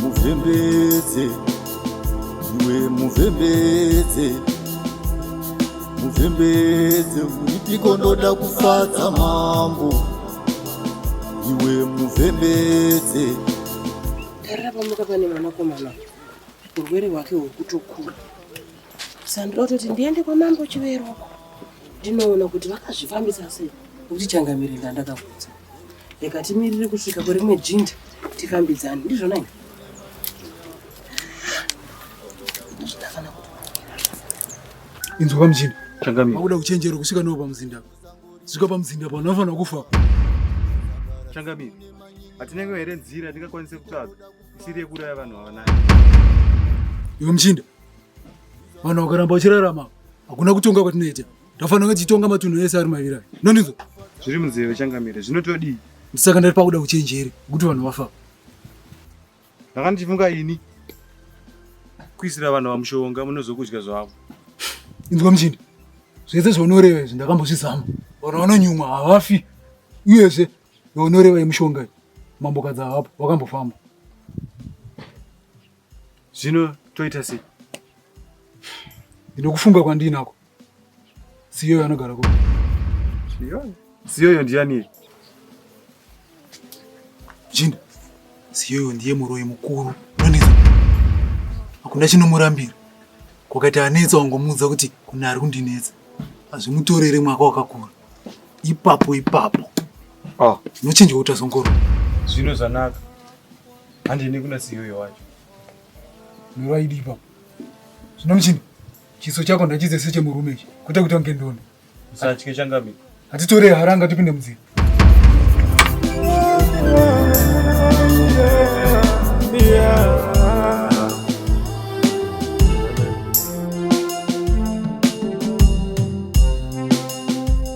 muvhembedze iwe muvhembedze muvhembedze uripiko ndoda kufadza mambo iwe muvhembedze tarira pamuka pane mwanakomana urwere hwake hwekutokura sandira kutoti ndiende kwamambo chiveroko ndinoona kuti vakazvifambisa sei nokuti changamire ndandakakudza rega timirire kusvika kwerimwe jinda tikambidzane ndizvona i inzwa pamuchinda changamauda kuchenjera kusvika navo pamuzinda svika pamuzinda pano vanofanira kufa changamire hatinenge here nzira ndingakwanise kutsvaga isiri yekuraya vanhu vavanai iwe muchinda vanhu vakaramba vachirarama hakuna kutonga kwatinoita Tafanira tichitonga matunhu ese ari mavira. Nonizwa. Zviri munzeve changamire. Zvinotodii? Ndisaka ndari pakuda kuchenjere kuti vanhu vafa. Ndakanga ndichifunga ini kuisira vanhu vamushonga munozokudya zvavo. Inzwa muchindi. Zvese zvaunoreva izvi ndakambozvizama. Vanhu vanonyumwa havafi. Uyezve vaunoreva yemushonga iyi mambokadzi havapo vakambofamba. Zvino toita sei? Ndinokufunga kwandinako. Siyoyo anogara kupi? Siyoyo. Siyoyo ndiani? Jinda. Siyoyo ndiye muroyi mukuru. Unonetsa. Hakuna chinomurambira. Kwakaita anetsa wangomuudza kuti kuna ari kundinetsa. Hazvimutorere mwaka wakakura. Ipapo ipapo. Ah, unochinja kuita zongoro. Zvino zvanaka. Handine kuna Siyoyo wacho. Muroyi ipapo. Zvino muchinda. Chiso chako ndachize sechemurume ichi kwete kuti wange ndoni. Usatye changami. Hatitore haranga tipinde mudziro.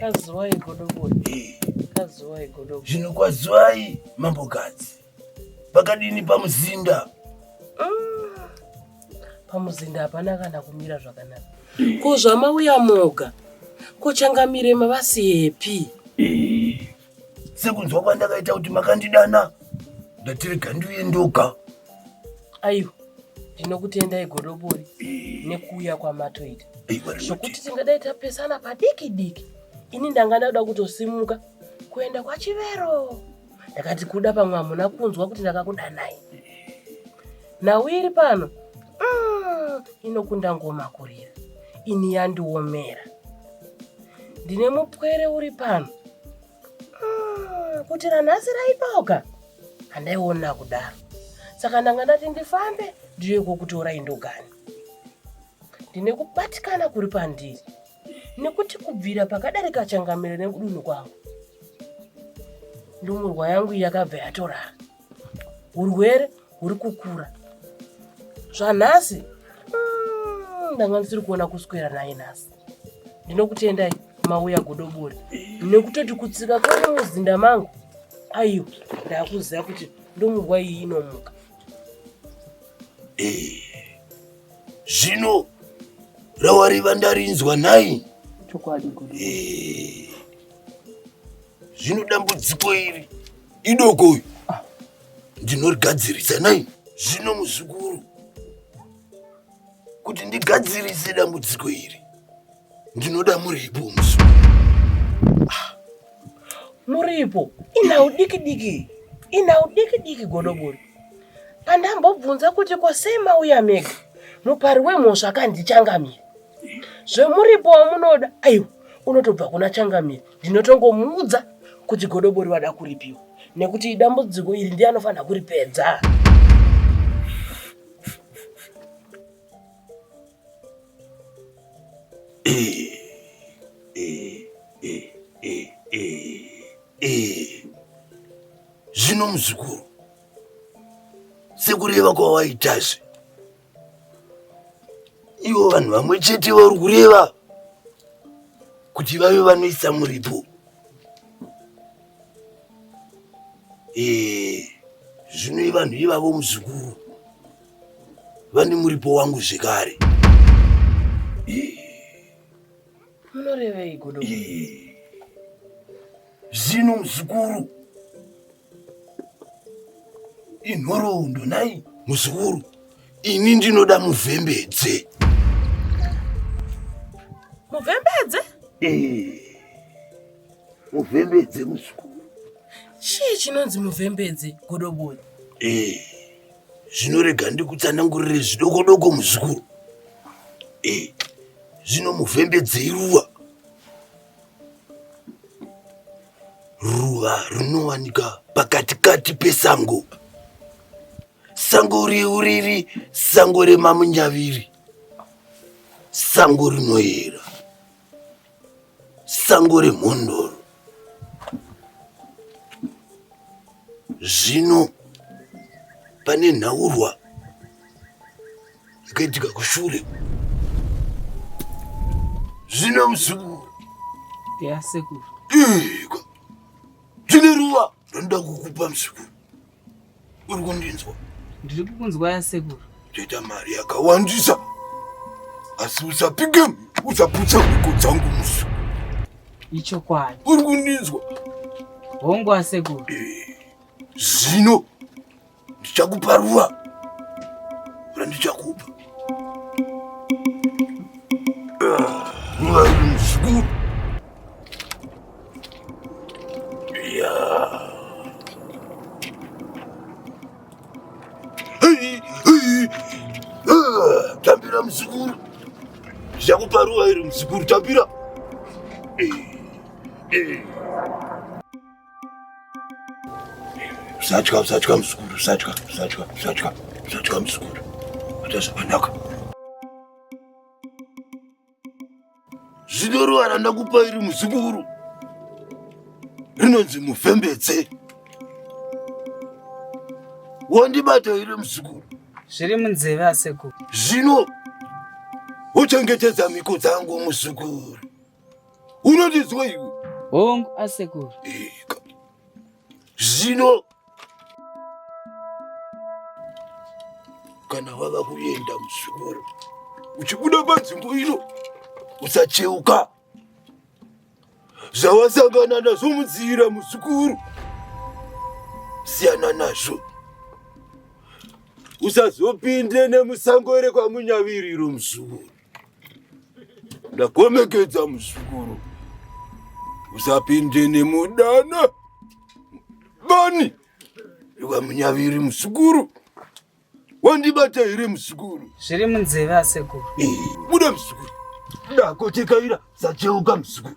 Kazuwai godobori. Eh. Kazuwai godobori. Zvino kwazuwai mambo gadzi. Pakadini pamuzinda? Ah. Pamuzinda hapana kana kumira zvakanaka. Eh. Ko zvamauya moga. Ko changamire mavasiyepi? Eh. sekunzwa kwandakaita kuti makandidana ndatirega ndiuye ndoga aiwa ndinokutendai godobori eh. nekuuya kwamatoita zvokuti tingadai tapesana padiki diki ini ndanga ndauda kutosimuka kuenda kwachivero ndakati kuda pamwe hamuna kunzwa kuti ndakakudanai Nhau iri pano mm, inokunda ngoma kurira, ini yandiomera. Ndine mupwere uri pano mm, kuti ranhasi raipoka handaiona kudaro, saka ndanga ndati ndifambe ndiuye kokutora indogani. Ndine kubatikana kuri pandiri nekuti kubvira pakadarika changamire nekudunhu kwangu ndumurwa yangu yakabva yatorara urwere huri kukura zvanhasi mm, ndanga ndisiri kuona kuswera naye nhasi ndinokutendai mauya godobori nekutoti kutsika kwane muzinda mangu aiwa ndakuziva kuti ndomunguva iyi inomuka eh, zvino rawariva ndarinzwa nhai chokwadi eh, Zvino dambudziko iri idoko uyu ndinorigadzirisa nai zvino muzukuru kuti ndigadzirise dambudziko iri ndinoda muripo muzukuru ah, muripo ina udiki diki ina udiki diki godobori pandambobvunza kuti kosei mauya mega mupari wemhosva akandichangamira zvemuripo wamunoda aiwa unotobva kuna changamire ndinotongomuudza kuti godobori wada kuripiwa nekuti dambudziko iri ndiye anofanira kuripedza zvino muzukuru sekureva kwawaitazve ivo vanhu vamwe chete vari kureva kuti vave vanoisa muripo eh, zvino ivanhu ivavo muzukuru vane muripo wangu zvekare munoreveiko zvino muzukuru inhoroondo nhai muzukuru ini ndinoda muvhembedze muvhembedze eh, muvhembedze muzukuru chii chinonzi muvhembedze godobori eh, zvinorega ndikutsanangurire zvidokodoko muzukuru eh, zvino muvhembedze iruva Ruva rinowanika pakatikati pesango. Sango riu riri sango remamunyaviri. Sango rinoyera. Sango remhondoro. Zvino pane nhaurwa ikaitika kushure zvino muzukuru yasekuru iko zvine ruva rinoda kukupa muzukuru uri kundinzwa ndiri kukunzwa yasekuru toita mari yakawandisa asi usapike usaputsa mhiko dzangu muzukuru ichokwadi uri kundinzwa hongu asekuru zvino ndichakupa ruva randichakupa tambira muzukuru ndichakupa ruva iri muzukuru tambira eh, eh. usatya usatya muzukuru usatya usatya usatya usatya muzukuru ita zvakanaka zino ruva randakupa iri muzukuru rinonzi muvhembedze wandibata iri muzukuru zviri munzeve asekuru zvino uchengetedza mhiko dzangu muzukuru unondiziwa iwe hongu asekuru zvino kana wava kuenda muzvikoro uchibuda panzvimbo ino usacheuka zvawasangana nazvo munzira muzukuru siyana nazvo usazopinde nemusango rekwamunyaviriro muzukuru ndakomekedza muzukuru usapinde nemudana bani iwa munyaviri muzukuru wandibata here muzukuru zviri munzeve asekuru buda muzukuru ndakotekaira sacheuka muzukuru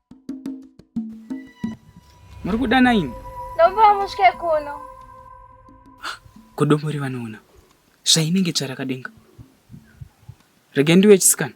Muri kuda naini? Ndomba musvike kuno. Kodomori vanoona zvainenge tsvarakadenga. Rege ndiwe chisikana.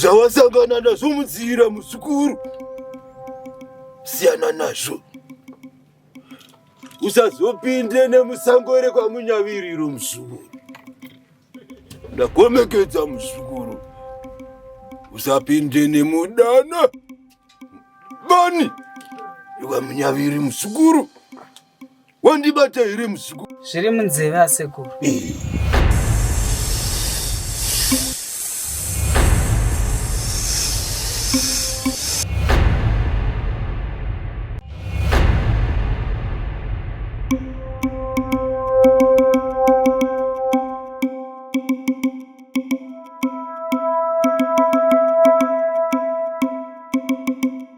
zvawasangana nazvo munzira muzukuru siyana nazvo usazopinde nemusango ere kwamunyaviriro muzukuru ndakomekedza muzukuru usapinde nemudana bani rwamunyaviri muzukuru wandibata here muzukuru zviri munzeve asekuru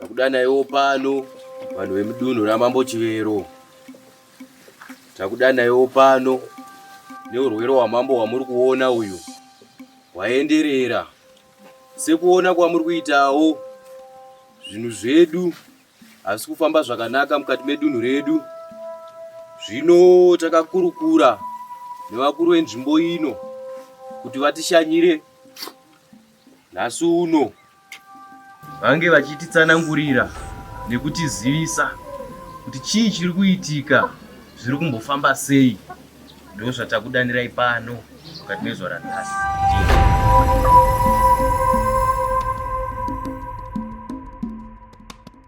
Takudanaiwo pano vanhu vemudunhu ramambo Chivero. Takudanaiwo pano neurwere hwamambo hwamuri kuona uyu hwaenderera sekuona kwamuri kuitawo zvinhu zvedu hazvisi kufamba zvakanaka mukati medunhu redu zvino takakurukura nevakuru venzvimbo ino kuti vatishanyire nhasi uno vange vachititsanangurira nekutizivisa kuti chii chiri kuitika zviri kumbofamba sei ndo zvatakudanirai pano mukati mezuva ranhasi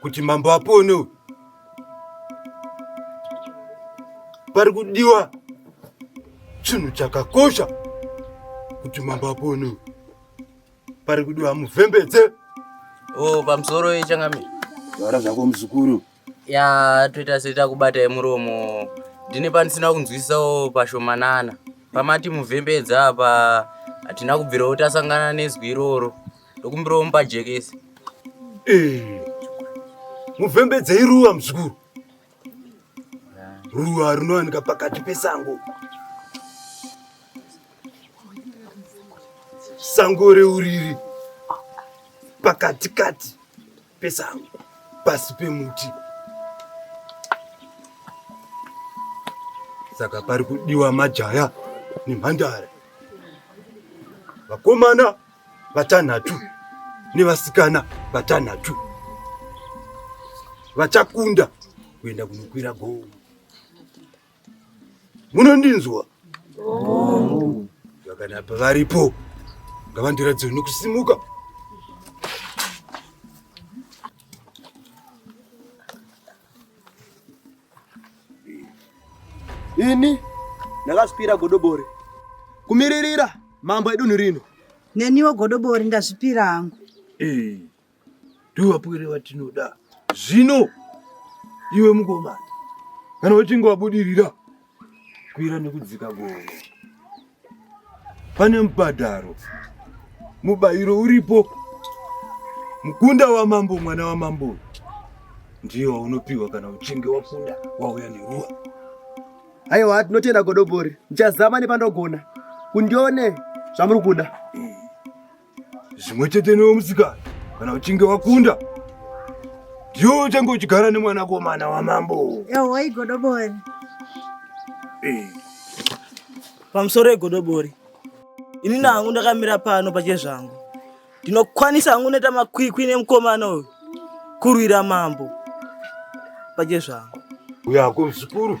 kuti mambo apone uyu pari kudiwa chinhu chakakosha kuti mambo apone uyu pari kudiwa muvhembedze o pamusoro yechangamire vara zvako muzukuru ya toita seta kubata yemuromo ndine pandisina kunzwisisawo pashomanana pamati muvhembedza apa hatina kubvirawo tasangana nezwi iroro ndokumbirawo mupajekese eh, muvhembedzei ruva muzukuru ruva rinowanika pakati pesango sango reuriri pakatikati pesango pasi pemuti saka pari kudiwa majaya nemhandara vakomana vatanhatu nevasikana vatanhatu vachakunda kuenda kunokwira gomo. Munondinzwa? Vakana pavaripo ngavandiratidze nokusimuka. Ini ndakazvipira godobori kumiririra mambo edunhu rino. Neniwo godobori ndazvipira hangu. Eh, ndovapwere vatinoda zvino iwe mukomana kana uchinge wabudirira kukwira nekudzika gomo pane mubhadharo mubayiro uripo mukunda wamambo mwana wamambo ndiyo waunopiwa kana uchinge wakunda wauya neruwa aiwa tinotenda godobori ndichazama nepandogona kundione zvamuri kuda mm. zvimwe chete newe musikana kana uchinge wakunda ndiwo uchange uchigara nemwanakomana wamambo yahwa igodobori eh. pamusoro egodobori ini nangu ndakamira pano pache zvangu ndinokwanisa hangu unoita makwikwi nemukomana uyu kurwira mambo pache zvangu uyako zvikuru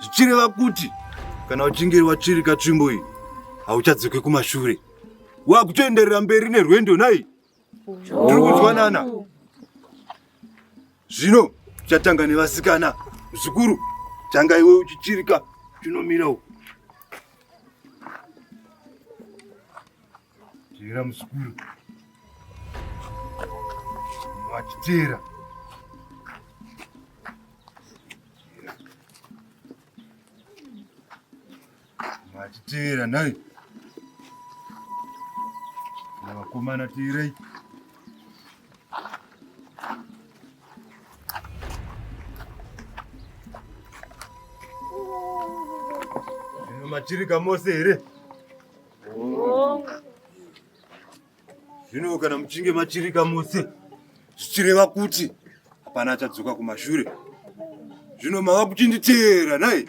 zvichireva kuti kana uchinge watsvirika tsvimbo iyi hauchadzoke kumashure wakutoenderera mberi nerwendo nai tiri kunzwanana zvino chatanga nevasikana zvikuru tanga iwe uchichirika chinomira uku Teera muzukuru. Wachiteera. Wachiteera nhai. Vakomana teerai. Machirika mose here? Zvino kana muchinge machirika mose zvichireva kuti hapana achadzoka kumashure. Zvino mava kuchinditeera nhai?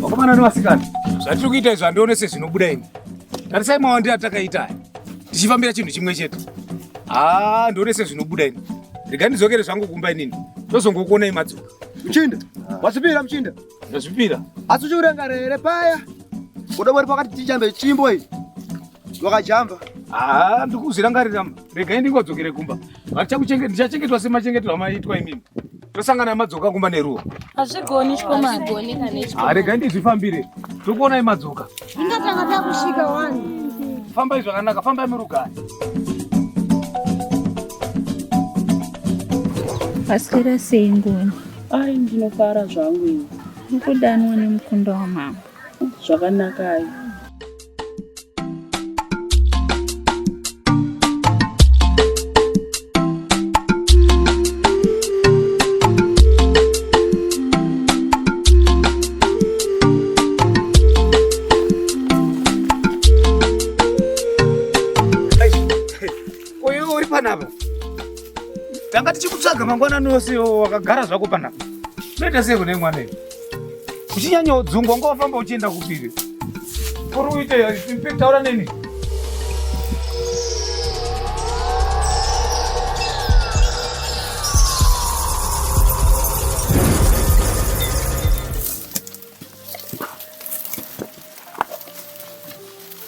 vakomana nevasikana zvatiri kuita izvi handione sezvinobuda ini tarisai mawandira atakaita aya tichifambira chinhu chimwe chete haa ndione sezvinobuda ini rega ndidzokere zvangu kumba inini ndozongokuonai madzoka muchinda wasipira muchinda Ndazvipira. Asi uchiurangara here paya? Kuda wari pakati tichambe chimbo iyi. Wakajamba. Ah, ndikuzvirangarira. Regai ndingodzokere kumba. Vachakuchengeta ndichachengetwa semachengetwa amaitwa imimi. Tosangana madzoka kumba neruwa. Hazvigoni chikoma. Hazvigoni kana chikoma. Ah, regai ndizvifambire. Tokuona imadzoka. Ndingatanga takusvika wani. Famba izvakanaka, famba imurugari. Pasira sei ngoni. Ai ndinofara zvangu ini. Mukudanwa nemukunda wamambo. Zvakanaka ayi. Uyu uri panapa. Tanga tichikutsvaga mangwana nose wakagara zvako panapa. Unoita sei kune mwana iwe? Uchinyanya udzungu wanga wafamba uchienda kupiri? Uri uite taura neni.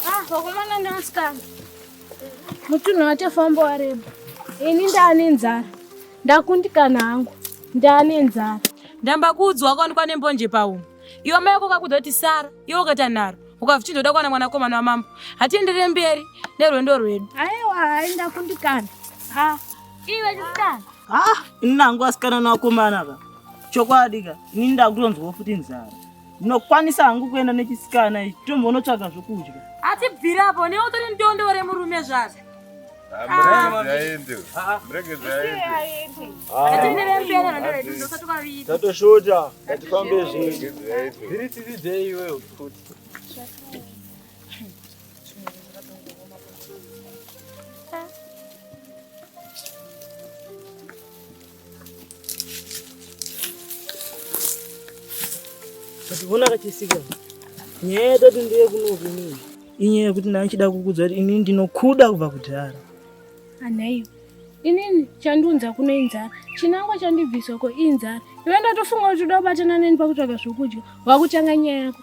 Ah, wakomana nevasikana. mutunhu atofamba wareba ini ndaane nzara ndakundikana hangu ndaane nzara ndamba kuudzwa wakaonekwa nembonje paumwe iwe mai yako kakuzoti sara iwe ukaita nharo ukavichindoda kuwana mwanakomana wamambo hatienderere mberi nerwendo rwedu aiwa hai ndakundikana ha iwe chisikana ha ini nangu asikana nawakomana ka chokwadi ka ini ndakutonzwawo futi nzara ndinokwanisa hangu kuenda nechisikana ichi tombonotsvaga zvokudya atibvire apo newe utori ndondo remurume zvazvo tatosvota ngatifambe zvinhu dziri tsitsi dzei iwewe futi Vona kachisika nyaya yatati ndiye kunokunini inyaya yekuti ndaichida kukudza kuti ini ndinokuda kubva kudhara anaiyo inini chandiunza kuno inzara chinangwa chandibviswa ko inzara iwe ndatofunga kuti uda kubatana neni pakutsvaga zvokudya wakutanga nyaya yako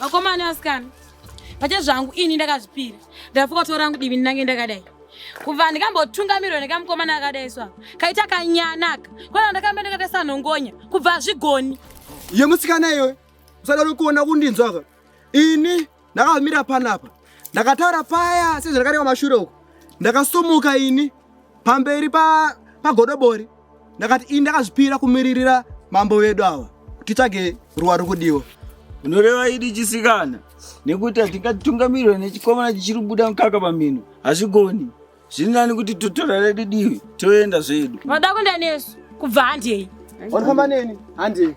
vakomana vasikana pacha zvangu ini ndakazvipira ndafuka tora rangu divi ndinange ndakadai kubva ndikambotungamirwa nekamukomana akadai swa kaita kanyanaka kwana ndakamba ndakaita sanhongonya kubva azvigoni yemusikana iyoyo usadaro kuona kundinzwaka ini Ndakamira panapa ndakataura paya sezvandakareva mashure uko ndakasumuka ini pamberi pagodobori pa ndakati ini ndakazvipira kumiririra mambo vedu ava titsvage ruwa rokudiwa unoreva idi chisikana nekuti hatingatungamirwa nechikomana chichiri kubuda mukaka pamhino hazvigoni zviri nani kuti totora redu divi toenda zvedu vanoda kuenda nesu kubva handei vanofamba neni handei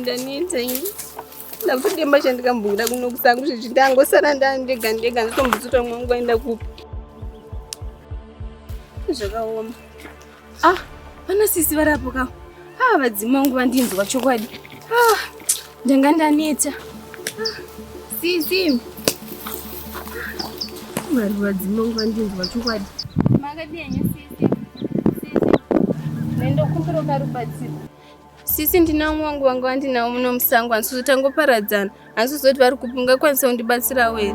ndaneta ini ndakutodemba chandikamboda kuno kusangu zvizvi ndangosara ndandega ndega ndatombotsuta mwe wangu aenda kupi zvakaoma ah vana sisi varapo ka ah vadzima wangu vandinzwa chokwadi ah Ndanga ndaneta. Sisi. Marwa dzimongo andinzwa chokwadi. Makadii henyu sisi? Sisi. Nendo kumbiro karubatsiro. Sisi ndina umwe wangu wangu andinawo muno musango hansuzo tangoparadzana. Hansuzo kuti vari kupi ungakwanisa kundibatsirawo here?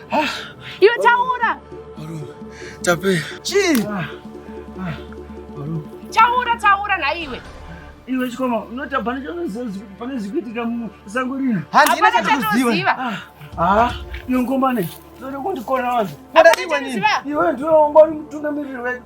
Ah, Iwe taura. Tape. Chii? Ah, ah, taura taura naiwe. Iwe chikoma unoita pane pane zvikuitika musango rino. Handina chatoziva. Ah, ah iyo ngomane. Ndoda kundikona vanhu. Ndoda iwe nini? Iwe ndiwe ungori mutungamiriri wedu.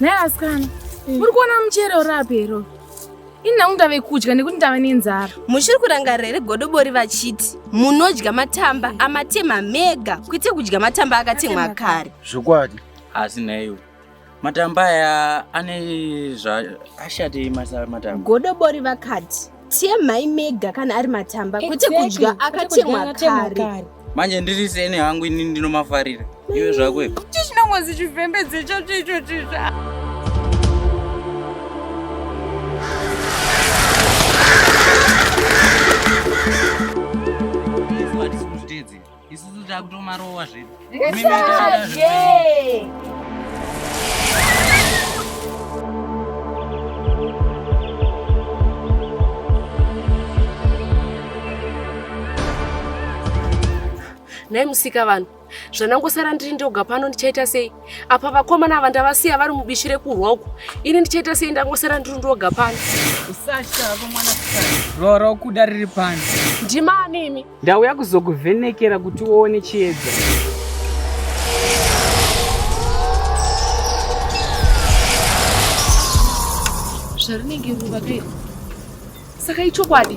naye asikana muri kuona muchero rapi iro ini nangu ndave kudya nekuti ndave nenzara muchiri kurangarira here godobori vachiti munodya matamba amatema mega kwete kudya matamba akatemwa kare zvokwadi asi nhaiwe matamba aya ane zvaashati masa matamba godobori vakati temhai mega kana ari matamba kwete kudya akatemwa kare manje ndiri seni hangu ini ndinomafarira iwe zvako iwe chinongozi chivhembedze chacho icho chitsva isusu takutomarowa zvedu Mimi ndakada zvedu. nhai musika vanhu zvanangosara ndiri ndoga pano ndichaita sei apa vakomana ava ndavasiya vari mubishi rekurwa uku ini ndichaita sei ndangosara ndiri ndoga pano usasha vako mwana rora ukuda riri pano ndimani imi Ndauya kuzokuvhenekera kuti uone chiedza. Zvarinenge ruva ke. Saka ichokwadi.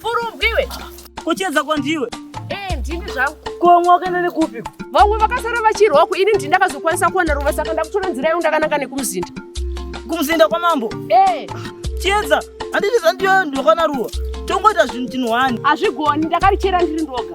Furubwiwe. Kuchedza kwandiwe. Eh, ndini zvangu. Komwa wakaenda nekupi? Vamwe vakasara vachirwa ku ini ndindakazokwanisa kuwana ruva saka ndakutora nzira yangu ndakananga nekumuzinda. Kumuzinda kwamambo? Eh. Chiedza, handiti zvandiyo ndokwana ruva. Tongoita zvinhu tinhu wani. Hazvigoni, ndakarichera ndiri ndoga.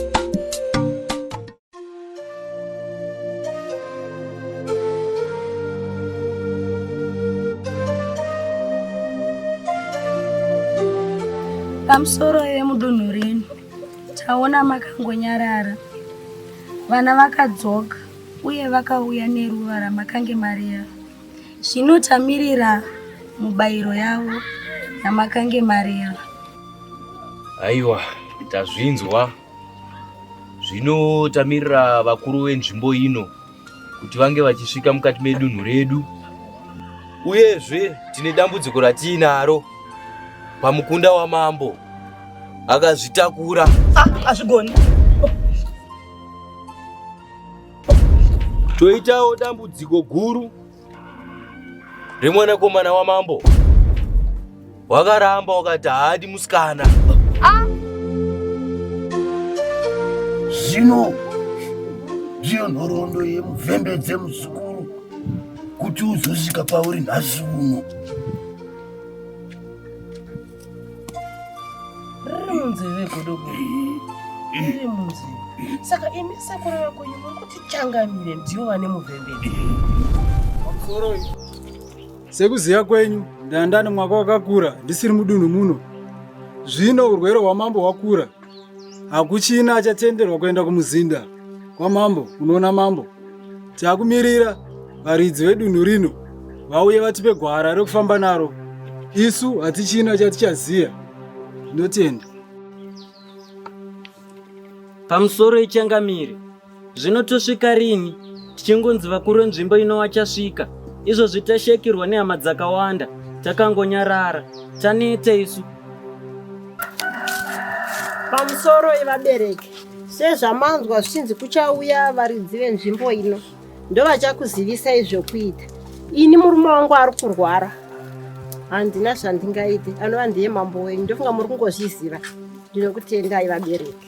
pamusoro vemudunhu rino taona makangonyarara vana vakadzoka uye vakauya neruva ramakange marera Zvino tamirira mubayiro yavo yamakange mareva. Aiwa, tazvinzwa. Zvino tamirira vakuru venzvimbo ino kuti vange vachisvika mukati medunhu redu. Uyezve tine dambudziko ratiinaro pamukunda wamambo akazvitakura. Ah, azvigoni. Toitawo dambudziko guru remwanakomana wamambo wakaramba wakati haadi musikana ah. zvino ndiyo nhoroondo yemuvembe dzemuzukuru kuti uzosvika pauri nhasi uno riri munzeve godogo riri munzeve saka imi sekuru vekunyu muri kuti changamire ndiyo vane muvhemberi sekuziva kwenyu ndandani mwaka wakakura ndisiri mudunhu muno zvino urwere hwamambo hwakura hakuchina achatenderwa kuenda kumuzinda kwamambo unoona mambo takumirira varidzi vedunhu rino vauye vatipe gwara rekufamba naro isu hatichina chatichaziva ndotenda pamusoro ichangamire Zvino tosvika rini tichingonzi vakuru venzvimbo ino vachasvika? Izvozvi tashaikirwa nehama dzakawanda, takangonyarara, taneta isu. Pamusoro yevabereki, sezvamanzwa zvichinzi kuchauya varidzi venzvimbo ino, ndovachakuzivisai zvokuita. Ini murume wangu ari kurwara, handina zvandingaite, anova ndiye mambo wenyu. Ndofunga muri kungozviziva. Ndinokutendai vabereki.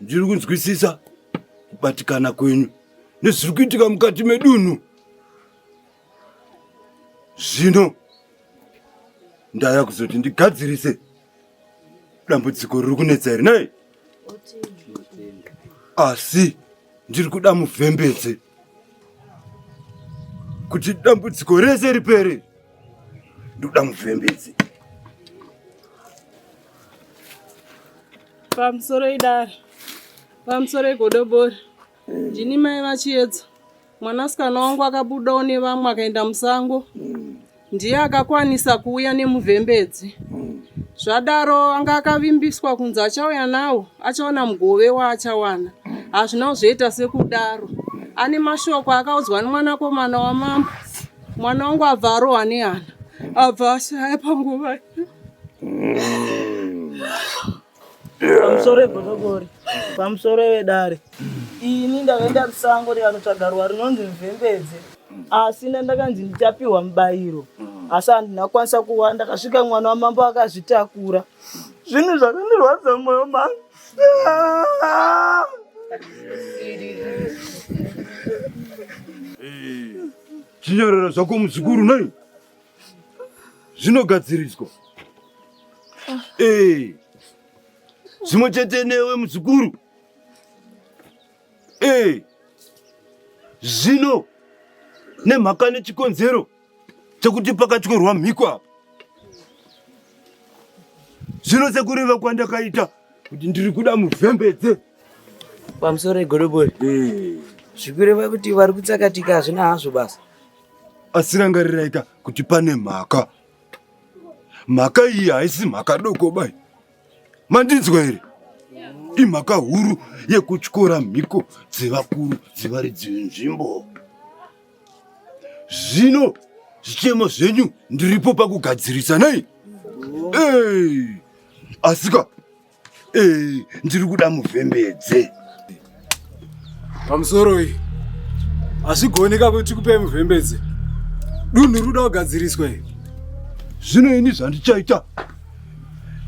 Ndiri kunzwisisa kubatikana kwenyu nezviri kuitika mukati medunhu. Zvino ndaya kuzoti ndigadzirise dambudziko riri kunetsa here nei? Asi ndiri kuda muvhembedze kuti dambudziko rese ripere. Ndoda muvhembedze. pamusoro idare pamusoro igodobori ndini mai vachiedza mwanasikana wangu akabudawo nevamwe akaenda musango ndiye akakwanisa kuuya nemuvhembedzi zvadaro anga akavimbiswa kunzi achauya nawo achaona mugove waachawana hazvina kuzviita sekudaro ane mashoko akaudzwa nemwanakomana wamambo mwana wangu abva arohwa nehana abva ashaya panguva iyo pamusoro egodobori pamusoro evedare ini ndakaenda kusango ndikanotsvaga ruwa rinonzi mvembedze asi ndandakanzi ndichapiwa mubayiro asi handina kukwanisa kuwana ndakasvika mwana wamambo akazvitakura zvinhu zvakandirwadza mwoyo mangu zvinyorero zvako muzukuru nei zvinogadziriswa ah. eh. zvimwe chete newe muzukuru eh. zvino nemhaka nechikonzero chekuti pakatyorwa mhiko apa zvino sekureva kwandakaita kuti ndiri kuda muvhembedze pamusoro egodobori eh. zvikureva kuti vari kutsakatika hazvina hazvo basa asi rangariraika kuti pane mhaka mhaka iyi haisi mhaka doko bai mandinzwa here imhaka huru yekutyora mhiko dzevakuru dzevaridzi venzvimbo zvino zvichemo zvenyu ndiripo pakugadzirisa nei asika Eh, ndiri kuda muvhembedze pamusoro iyi hazvigoneka kuti kupe muvhembedze dunhu ruda kugadziriswa iyi zvino ini zvandichaita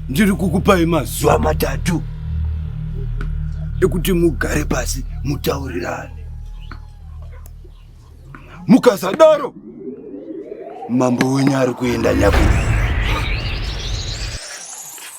ndiri kukupai mazuva matatu ekuti mugare pasi mutaurirane mukasadaro mambo wenyu ari kuenda nyakurira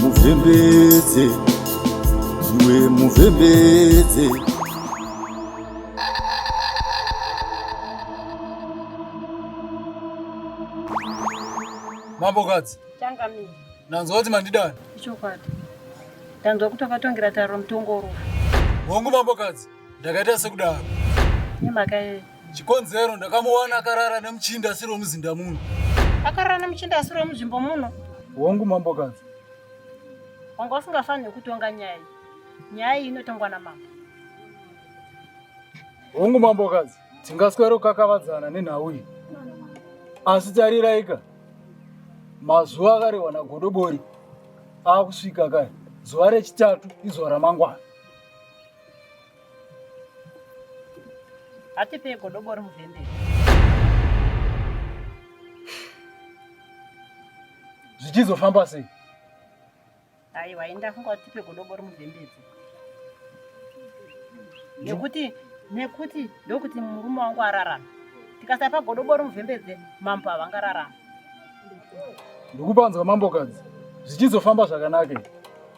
muvhembedze iwe muvhembedze mambokadzi changamire ndanzwa kuti mandidana ichokwadi ndanzwa kuti wakatongira tariro mutongo urofu hongu mambokadzi ndakaita sekudaro nemakaye chikonzero ndakamuwana akarara nemuchinda asiri wemuzinda muno akarara nemuchinda asiri wemunzvimbo muno hongu mambokadzi wanga usingafanire kutonga nyaya iyi nyaya iyi inotongwa namambo hongu mambokadzi tingaswero kakavadzana nenhau iyi asi tariraika mazuva akarehwa nagodobori akusvika kare zuva rechitatu izuva ramangwana Atipe godobo ri mudende. Zvichizofamba sei? Aiwa, enda funga kuti tipe godobo ri mudendedzi. Nekuti nekuti ndokuti murume wangu ararama. Tikasapa godobo ri mudendedzi mambo avangararama. Ndikupanzwa mambokadzi. Zvichizofamba zvakanaka.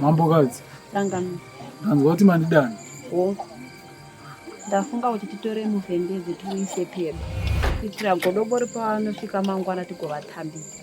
Mambokadzi, ndanzwa kuti mandidana. Ndafunga kuti titore muvhendedzi tiuise pedo kuitira godobori pavanosvika mangwana tigovatambidza.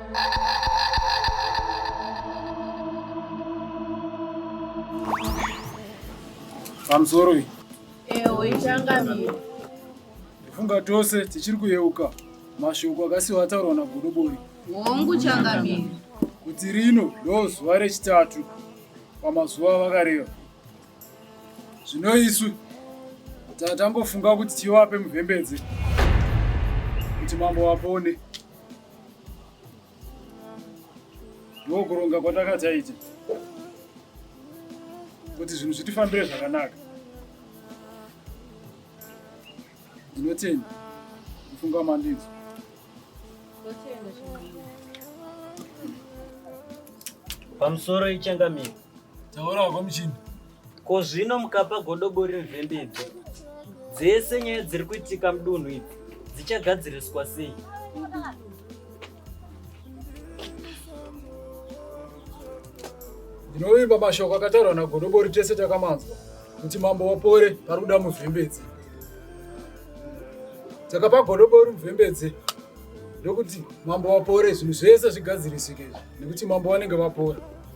pamusoro iyi ewo ichangamira ndifunga tose tichiri kuyeuka mashoko akasiwa ataurwa nagodobori hongu changamira kuti rino ndo zuva rechitatu pamazuva vakareva zvino isu tatangofunga kuti tivape muvhembedze kuti mambo vapone ndokuronga kwatakataita kuti zvinhu zvitifambire zvakanaka ndinotenda kufunga mandidzo pamusoro ichangamiro taura hako muchini Ko zvino mukapa godobori nzvembe idzi dzese nyaya dziri kuitika mudunhu idzi dzichagadziriswa sei? Ndinovimba mashoko akataurwa nagodobori tese takamanzwa kuti mambo wapore pari kuda muzvembe idzi. Takapa godobori muzvembe idzi ndokuti mambo wapore zvinhu zvese zvigadzirisike izvi nekuti mambo vanenge vapora.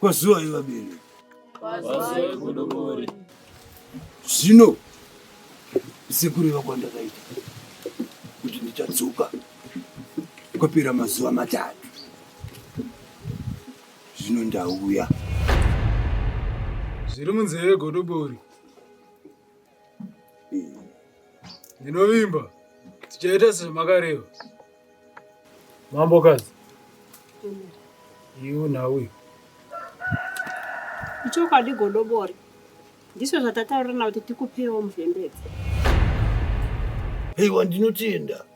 Kwazuvai vabereki. Kwazuvai Godobori. Zvino sekureva kwandakaita kuti ndichadzoka kwapera mazuva matatu zvino ndauya zviri munzeve godobori Ndinovimba tichaita sezvamakareva. Mambokadzi, iwe nhau uyu. Ichokwadi godobori. Ndizvo zvatataurana kuti tikupewo mvembedzi. Haiwa ndinotenda.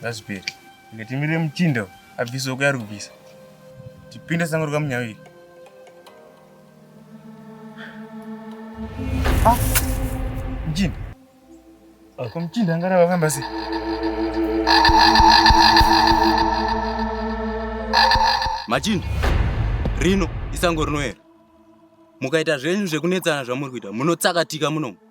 ngazvipere inge timirire muchinda abvise uko yari kubvisa tipinde sango rikamunyaviri ah, muchinda ko muchinda angarava akamba sei machinda rino isango rinoera mukaita zvenyu zvekunetsana zvamuri kuita munotsakatika munomu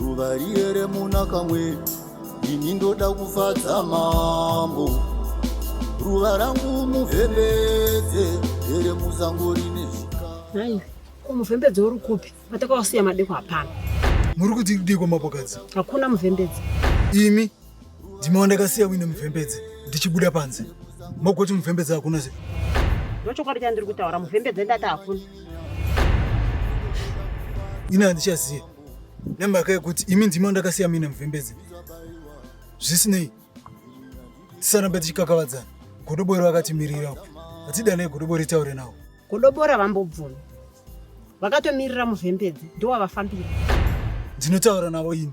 Ruva riye remuna kamwe ini ndoda kufadza mambo ruva rangu muvhembedze here musango rine zvikaai ko muvhembedze uri kupi vatakawasiya madeko hapana muri kudikudiko mapokadzi hakuna muvhembedze imi ndimawa ndakasiya wine muvhembedze ndichibuda panze mogoti muvhembedze hakuna se ndochokwadi chandiri kutaura muvhembedze ndati hakuna ini handichazive nemhaka yekuti imi ndima ndakasiya mine muvhembedze zvisinei tisarambe tichikakavadzana godobori vakatimirira uku hatidanei godobori taure nawo godobori havambobvumi vakatomirira muvhembedze ndowavafambira ndinotaura navo ini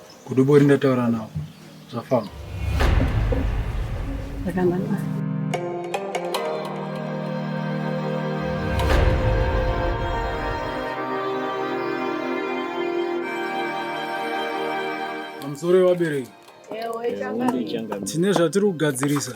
Godobori ndataura nawo zvafamba. Zvakanaka. Pamusoro wevabereki tine zvatiri kugadzirisa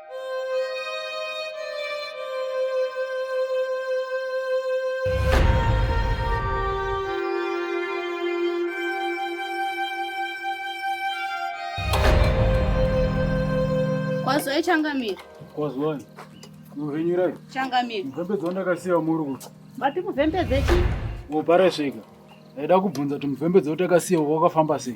Kwazoe changamire. Kwazoe. Muvhenyirai. Changamire. Mupembedzi wandakasiya muri kuti. Vati muvhembedze chii? Wopara svika. Ndaida kubvunza kuti muvhembedzi watakasiya wakafamba sei?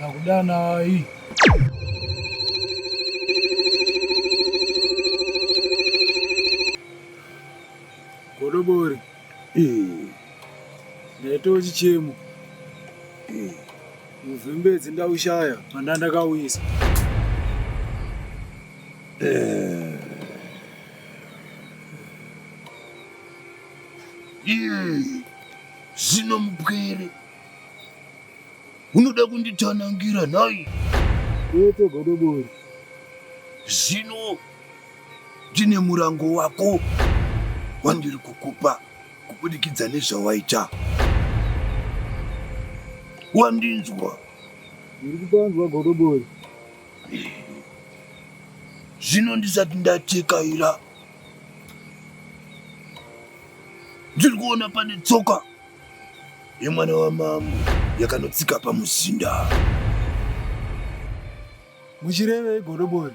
Nakudanai. Godobori. Eh. Ndaita chichemo. Eh. Muvhembedzi ndaushaya manda ndakauyisa. Eh. Eh. Zino mupwere. unoda kunditsanangira nhai Yete godobori. zvino ndine murango wako wandiri kukupa kubudikidza nezvawaita wandinzwa Ndiri kupanzwa godobori. zvino ndisati ndatekaira ndiri kuona pane tsoka yemwana wamambo yakanotsika pamuzinda. Muchirevei godobori?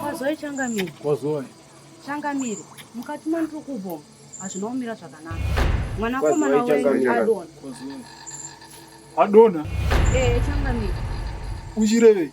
Kwazoe changamire. Kwazoe. Changamire. Mukati mandiri kubvoma hazvina kumira zvakanaka. Mwanakomana wenyu adona. Adona? Eh, changamire. Uchirevei?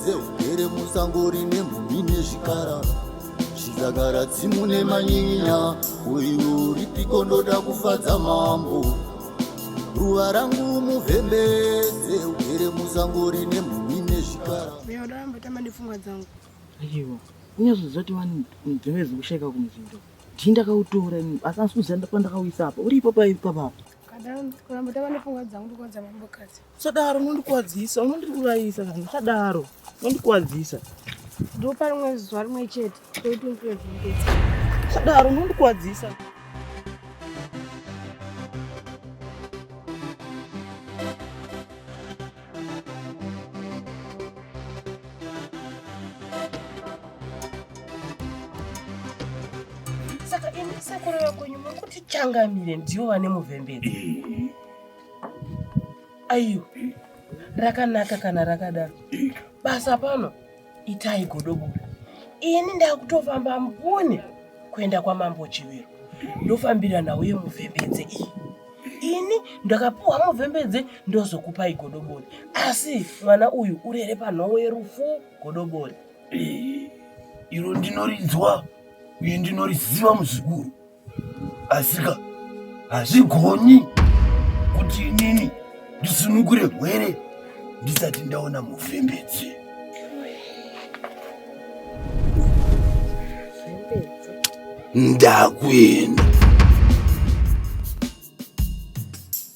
dzehugere musango rine mhumhi nezvikara zvizagara tsimu nemanyinya uyu ripiko ndoda kufadza mambo ruva rangu muvhembe dzehugere musango rine mhumhi nezvikara Mira, ahora me está mandando fumar zango. aiwa unyazoziva kuti vanhu nzeve dzekusheka kumuzinda ndii ndakautora ini asi asi kuziva ndapa ndakauisa apa uri ipapo ipapo apa Kadam, kuramba tava nefungwa dzangu ndikuudza mambo kadzi. Sadaro unondikuwadzisa, unondiurayisa kana sadaro unondikuwadzisa. Ndopa rimwe zuva rimwe chete toiti undirevingetsa. Sadaro unondikuwadzisa. Saka ini sekuru vekwenyu muri kuti changamire ndivo vane muvhemberi. aiyo rakanaka kana rakadaro basa pano itai godobura ini ndakutofamba mbune kuenda kwamambo chiviro ndofambira nhau yemuvhembedze iyi ini ndakapiwa muvhembedze ndozokupai godobori asi mwana uyu urere panhowo yerufu godobori iro ndinorinzwa uye ndinoriziva muzukuru asika hazvigoni kuti inini ndisunukure hwere ndisati ndaona mufembedzi ndakuenda